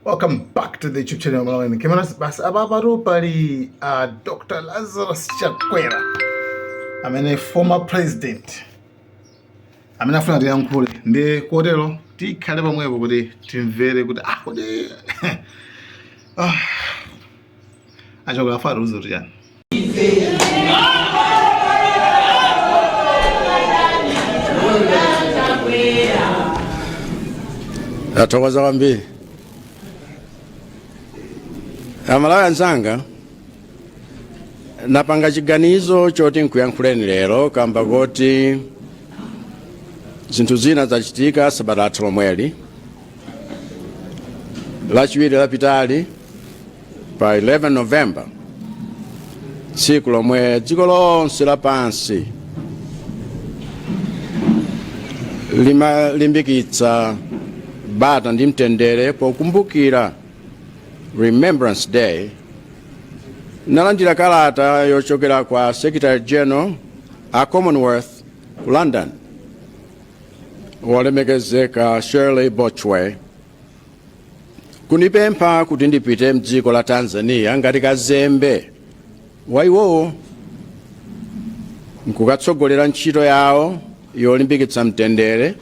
welcome back to the youtube channel malawi in cameras basi apa patu pali uh, dr lazarus chakwera amene former president amene afuna atiyankhule nde kotero tikhale pamwepo kuti timvere kuti ah kodi ah a chakwera afuna atiuze kuti chani ndathokoza kwambiri amalawi anzanga napanga chiganizo choti nkuyankhuleni lero kamba koti zinthu zina zachitika sabata lathu lomweli lachiwiri lapitali pa 11 november tsiku lomwe dziko lonse lapansi limalimbikitsa bata ndi mtendere pokumbukira remembrance day ndalandira kalata yochokera kwa secretary general a commonwealth ku london wolemekezeka shirley botchwey kundipempha kuti ndipite mdziko la tanzania ngati kazembe wa iwowo nkukatsogolera ntchito yawo yolimbikitsa mtendere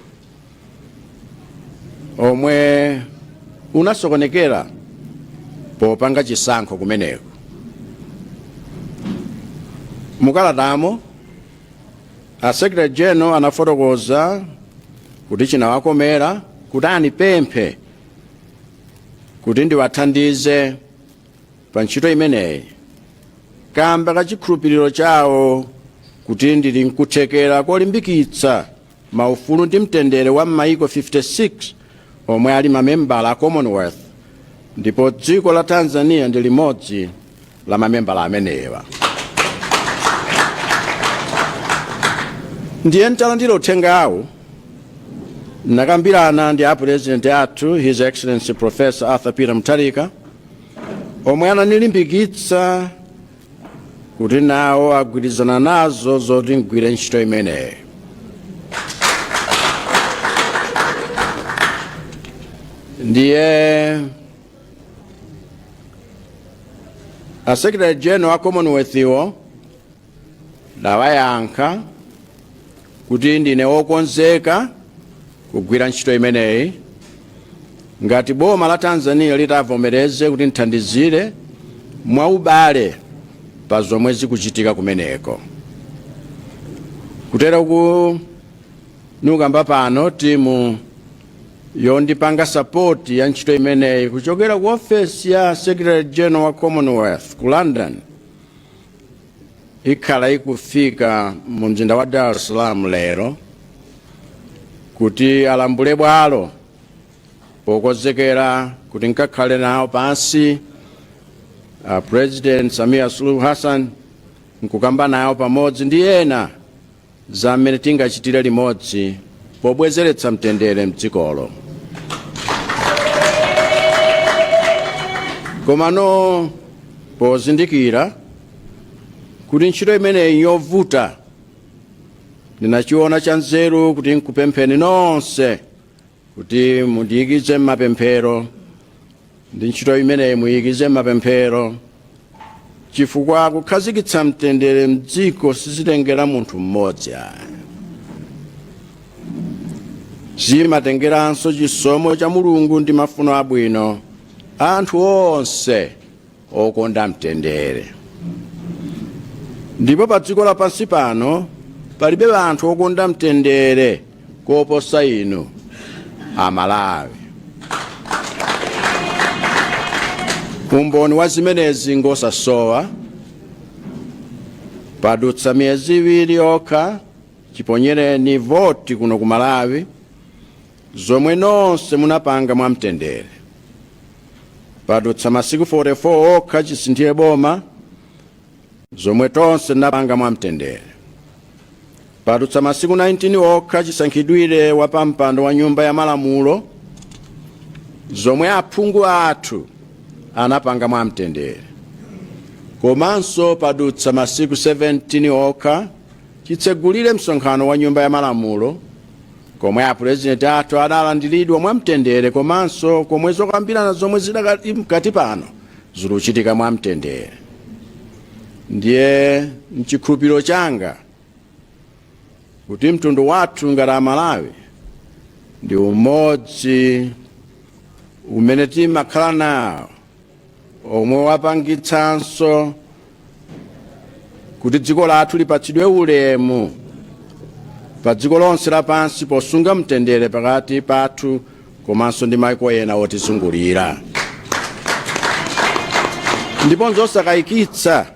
omwe unasokonekera popanga chisankho kumeneko mukalatamo A Secretary General anafotokoza kuti chinawakomera kuti anipemphe kuti ndiwathandize pa ntchito imeneyi kamba ka chikhulupiriro chawo kuti ndili nkuthekera kolimbikitsa maufulu ndi mtendere wa m'mayiko 56 omwe ali mamembala a Commonwealth ndipo dziko la Tanzania ndi limodzi la mamembala amenewa. Ndiye ntalandira uthengawu nakambirana ndi a president athu His Excellency Professor Arthur Peter Mutharika omwe ananilimbikitsa kuti nawo agwirizana nazo zoti ngwire ntchito imeneyi ndiye a secretary general wa commonwealth wo ndawayankha kuti ndine wokonzeka kugwira ntchito imeneyi ngati boma la Tanzania litavomereze kuti ndithandizire mwaubale pa zomwe zikuchitika kumeneko kutero kuti ndikukamba pano timu yondipanga sapoti ya ntchito imeneyi kuchokera ku ofesi ya secretary general wa commonwealth ku london ikhala ikufika mu mzinda wa dar es salaam lero kuti alambule bwalo pokonzekera kuti nkakhale nawo pansi a president samia suluhu hassan nkukamba nawo pamodzi ndi ena za mmene tingachitire limodzi pobwezeretsa mtendere m'dzikolo. Komano pozindikira kuti ntchito imeneyi njovuta ndinachiona chanzeru kuti nkupempheni nonse kuti mundiyikize m'mapemphero ndi ntchito imeneyi muyikize m'mapemphero chifukwa kukhazikitsa mtendere mdziko sizitengera munthu mmodzi ayi zimatengeranso chisomo cha mulungu ndi mafuno abwino a anthu onse okonda mtendere ndipo pa dziko lapansi pano palibe anthu okonda mtendere koposa inu amalawi umboni wa zimenezi ngosasowa padutsa miyezi iwiri yokha chiponyereni voti kuno ku malawi zomwe nonse munapanga mwa mtendere. Padutsa masiku 44 okha chisinthire boma, zomwe tonse tinapanga mwa mtendere. Padutsa masiku 19 okha chisankhidwire wa pampando wa nyumba ya malamulo, zomwe aphungu athu anapanga mwa mtendere. Komanso padutsa masiku 17 okha chitsegulire msonkhano wa nyumba ya malamulo, komwe apulezidenti athu adalandiridwa mwamtendere komanso komwe zokambirana zomwe zidakali mkati pano zikuchitika mwamtendere ndiye nchikhulupiriro changa kuti mtundu wathu ngati amalawi ndi umodzi umene timakhala nawo omwe wapangitsanso kuti dziko lathu lipatsidwe ulemu pa dziko lonse lapansi posunga mtendere pakati pathu komanso ndi maiko ena otizungulira ndipo nzosakayikitsa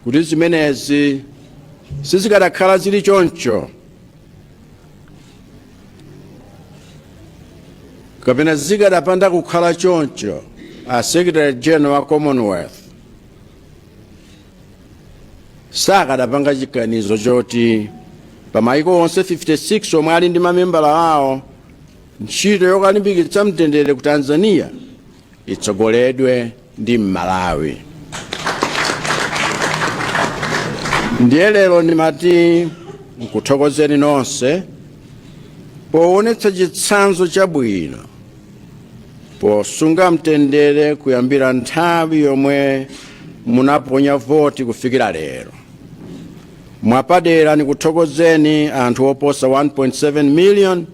kuti zimenezi sizikadakhala zili choncho kapena zikadapanda kukhala choncho a secretary general wa commonwealth sakadapanga chiganizo choti pa maiko onse 56 omwe ali ndi mamembala awo ntchito yokalimbikitsa mtendere ku tanzania itsogoledwe ndi Mmalawi. Ndiye lero ndimati nkuthokozeni nonse poonetsa chitsanzo chabwino posunga mtendere kuyambira nthawi yomwe munaponya voti kufikira lero. Mwapadera ndikuthokozeni anthu oposa 1.7 million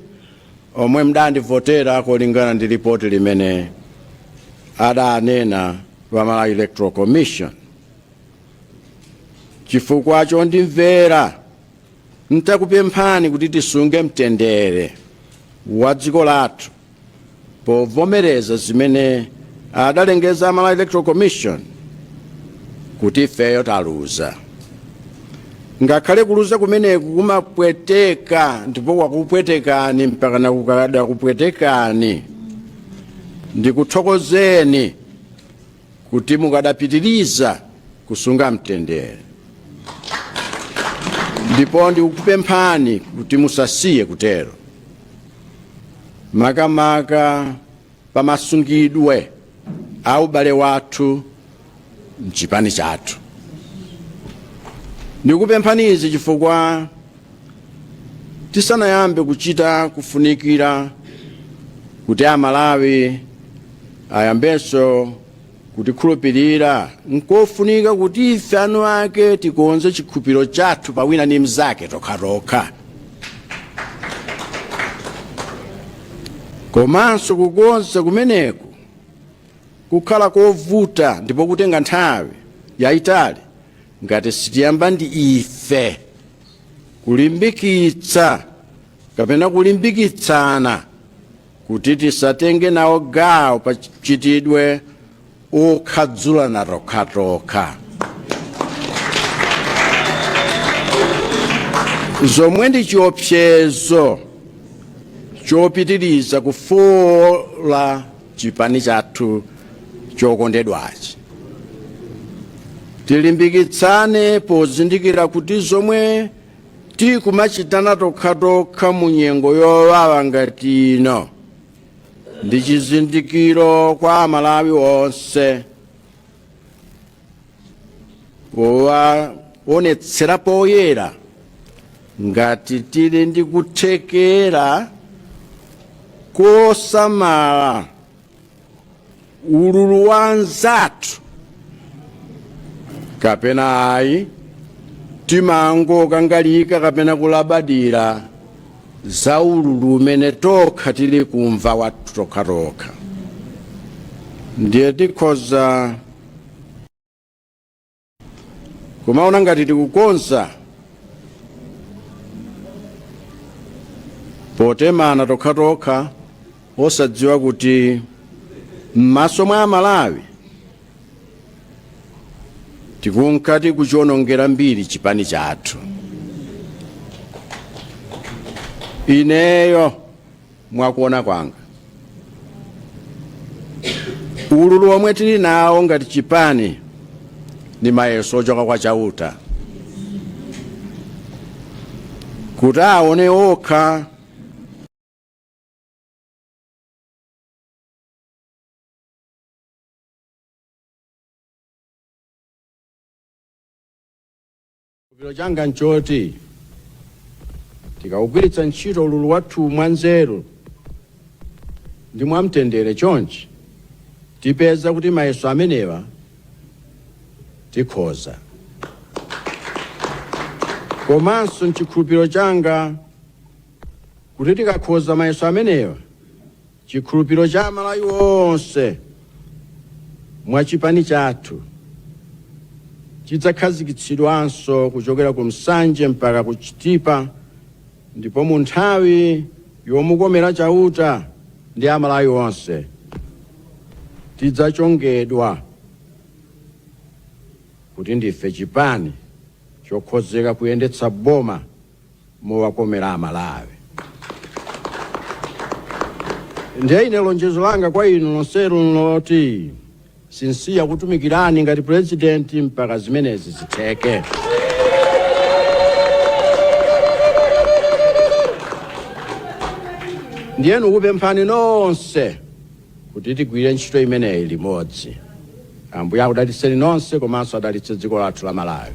Omwe mdandivotera kulingana ndi lipoti limene adanena a Malawi Electoral Commission chifukwa chondimvera ntakupemphani kuti tisunge mtendere wa dziko lathu povomereza zimene adalengeza a Malawi electoral commission kuti ifeyo taluza ngakhale kuluza kumeneku kumapweteka ndipo kwakupwetekani mpaka pano kukadakupwetekani ndikuthokozeni kuti mukadapitiriza kusunga mtendere ndipo ndikukupemphani kuti musasiye kutero makamaka pamasungidwe a ubale wathu mchipani chathu ndikupemphani izi chifukwa tisanayambe kuchita kufunikira kuti amalawi ayambenso kutikhulupirira nkofunika kuti ife eni ake tikonze chikhulupiriro chathu pa wina ndi mnzake tokhatokha komanso kukonza kumeneku kukhala kovuta ndipo kutenga nthawi yayitali Ngati sitiyamba ndi ife kulimbikitsa kapena kulimbikitsana kuti tisatenge nawo gawo pa mchitidwe okhadzulana tokhatokha zomwe ndi chiopsezo chopitiriza kufoola chipani chathu chokondedwachi tilimbikitsane pozindikira kuti zomwe tikumachitana tokhatokha mu nyengo yowawa ngati ino ndi chizindikiro kwa amalawi onse powaonetsera poyera ngati tili ndi kuthekera kosamala ululu wa anzathu kapena ayi timangokangalika kapena kulabadira za ululu umene tokha tili kumva wathu tokhatokha ndiye tikhoza kumaona ngati tikukonza potemana tokhatokha osadziwa kuti m'maso mwa amalawi tikunka tikuchionongera mbiri chipani chathu ineyo Mwakuona kwanga ululu omwe tili nawo ngati chipani ndi mayeso ochoka kwa Chauta kuti aone okha Chikhulupiriro changa n'choti tikaugwiritsa ntchito ululu wathuwu mwanzeru ndi mwamtendere chonchi, tipeza kuti mayeso amenewa tikhoza. Komanso n'chikhulupiriro changa kuti tikakhoza mayeso amenewa, Chikhulupiriro cha amalawi onse mwa chipani chathu chidzakhazikitsidwanso kuchokera ku Nsanje mpaka ku Chitipa ndipo mu nthawi yomukomera Chauta ndi amalawi onse tidzachongedwa kuti ndife chipani chokonzeka kuyendetsa boma mowakomera Amalawi. Ndiye ine lonjezo langa kwa inu nonsenu nloti sinsiya kutumikirani ngati pulezidenti mpaka zimenezi zitheke. Ndiye ndikupemphani nonse kuti tigwire ntchito imeneyi limodzi. Ambuye akudalitseni nonse komanso adalitse dziko lathu la Malawi.